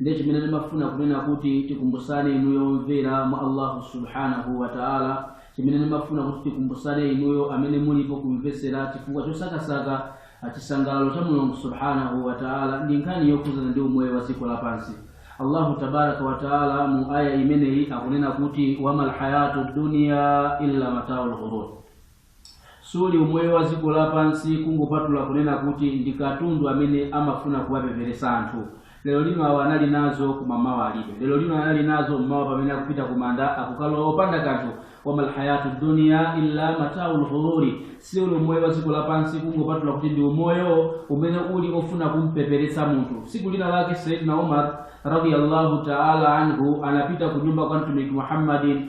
Ndiye chimene ndimafuna kunena kuti tikumbusane inuyo omvera mwa Allahu subhanahu wa ta'ala, chimene ndimafuna kuti tikumbusane inuyo amene mulipo kumvetsera chifukwa chosakasaka chisangalalo cha Mulungu subhanahu wa ta'ala ndi nkhani yokhudzana ndi umoyo wa dziko lapansi. Allahu tabaraka wa ta'ala mu aya imeneyi akunena kuti wamal hayatu dunya illa mataul ghurur. Siuli umoyo wa dziko lapansi kungopatula kunena kuti ndi katundu amene amafuna kuwapeperesa anthu. Lero lino awa anali nazo koma mmawa alibe. Lero lino anali nazo mmawa pamene akupita ku manda akukalowa opanda kanthu. Wamal hayatu dunya illa mataul ghururi. Siuli umoyo wa dziko lapansi kungopatula kuti ndi umoyo umene uli ofuna kumpeperetsa munthu. Tsiku lina lake Sayyidina Umar radiyallahu ta'ala anhu anapita ku nyumba kwa Mtumiki Muhammadin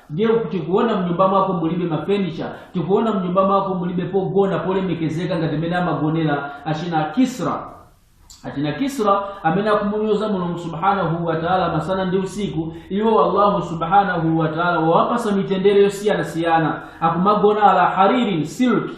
ndiye tikuona mnyumba mwako mulibe mafenicha tikuona mnyumba mwako mulibe pogona polemekezeka ngati mmene amagonera achina kisra achina kisra amene akumunyoza mulungu subhanahu wataala masana ndi usiku iwo allahu subhanahu wataala wawapasa mitendere yosiyanasiyana akumagona ala haririn silki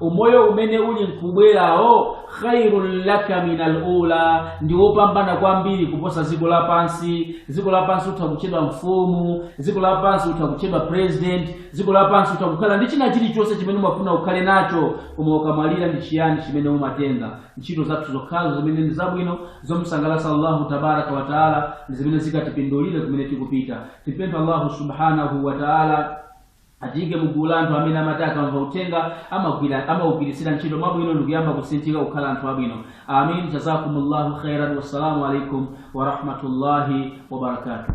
umoyo umene uli nkubwerawo khairun laka minal ula ndi wopambana kwambiri kuposa dziko lapansi dziko lapansi utha kutchedwa mfumu dziko lapansi utha kutchedwa president dziko lapansi utha kukhala ndi china chilichonse chimene umafuna ukhale nacho koma ukamwalira ndi chiyani chimene umatenga ntchito zathu zokhazo zimene ndi zabwino zomusangalatsa allahu tabaraka wataala ndi zimene zikatipindulire kumene tikupita tipempha allahu subhanahu wataala Atiike mu gulu la anthu amene amati akamva uthenga amaugwiritsira ntchito mwabwino ndikuyamba kusinthika kukhala anthu abwino. Ameen Jazakumullahu khairan Wassalamu alaikum warahmatullahi wabarakatuh.